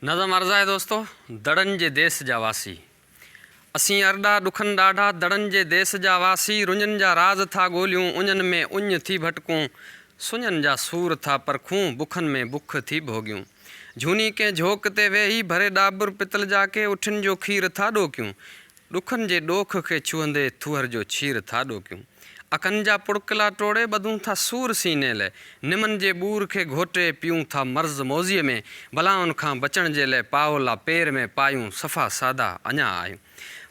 نظم عرض آهي دوستو! دڙن جي ديس جا واسي اسين ارڏا ڏکن ڏاڍا دڙن جي ديس جا واسي رڃن جا راز ٿا ڳوليون اڃن ۾ اڃ ٿي ڀٽڪون سڃن جا سور ٿا پرکون بکن ۾ بک ٿي ڀوڳيون جھوني ڪنهن جھوڪ تي ويهي ڀري ڏاٻر پتل جا ڪي اٺين جو کير ٿا ڏوڪيون ڏکن جي ڏوک کي ڇهندي ٿوهر جو ڇير ٿا ڏوڪيون. اکن جا پڙڪلا ٽوڙي ٻڌون ٿا سور سيني لئه. نمن جي ٻور کي گهوٽي پيئون ٿا مرض موذيء ۾. بلائن کان بچڻ جي لئه پائولا پير ۾ پايون صفا سادا اڃا آهيون.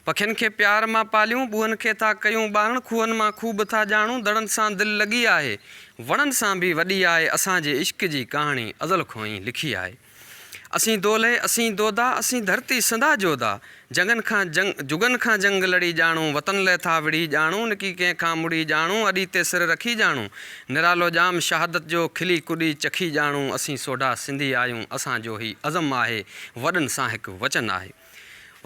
پکين کي پيار مان پاليون ٻوهن کي ٿا ڪيون ٻارڻ کوهن مان خوب ٿا ڄاڻون دڙن سان دل لڳي آهي وڻن سان به وڏي آهي اسان جي عشق جي ڪهاڻي ازل کون ئي لکي آهي. اسين دولهي، اسين دودا، اسين ڌرتي سندا جودا، جنگن کان جنگ، جڳن کان جنگ لڙي ڄاڻون، وطن لئه ٿا وڙهي ڄاڻون، نڪي ڪنهن کان مڙهي ڄاڻون، اڏي تي سر رکي ڄاڻون، نرالو ڄام شهادت جو، کلي ڪڏي چکي ڄاڻون، اسين سوڍا سنڌي آهيون، اسان جو هي عزم آهي، وڏن سان هڪ وچن آهي.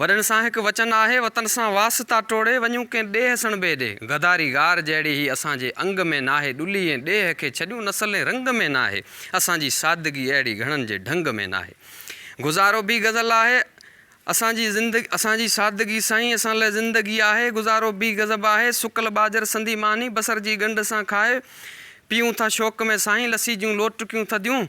وڏن سان هڪ وچن آهي، وطن سان واسطا ٽوڙي، وڃون ڪنهن ڏيهه سڻڀي ڏي. غداري غار جهڙي هي اسان جي انگ ۾ ناهي، ڏلي ۽ ڏيهه کي ڇڏيون نسل ۽ رنگ ۾ ناهي، اسان جي سادگي اهڙي گهڻن جي ڍنگ ۾ ناهي. گذارو به غزل آهي، اسان جي زندگي اسان جي سادگي سائين اسان لاء زندگي آهي، گذارو به غضب آهي، سڪل ٻاجهر سندي ماني، بصر جي ڳنڍ سان کائي، پيئون ٿا شوق ۾ سائين، لسي جون لوٽڪيون ٿڌيون،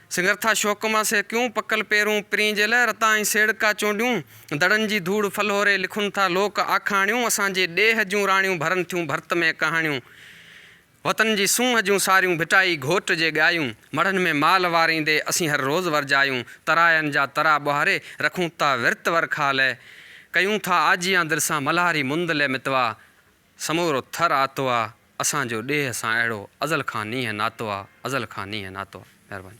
سنگرٿا شوق مان سي ڪيون، پڪل پيرون پرين جي لئه، رتا ۽ سيڙڪا چونڊيون، دڙن جي ڌوڙ ڦلهوري، لکن ٿا لوڪ آکاڻيون، اسان جي ڏيهه جون راڻيون، ڀرن ٿيون ڀرت ۾ ڪهاڻيون، وطن جي سونهن جون ساريون، ڀٽائي گهوٽ جي ڳايون، مڙهن ۾ مال واريندي، اسين هر روز ورجايون، تراين جا ترا ٻهاري، رکون ٿا ورت ورکا لئه، ڪيون ٿا آجيان دل سان، ملهاري مند لئه متوا، سمورو ٿر آتو آ، اسان جو ڏيهه سان اهڙو ازل کان نينهن ناتو آ، ازل کان نينهن ناتو آ. مهرباني.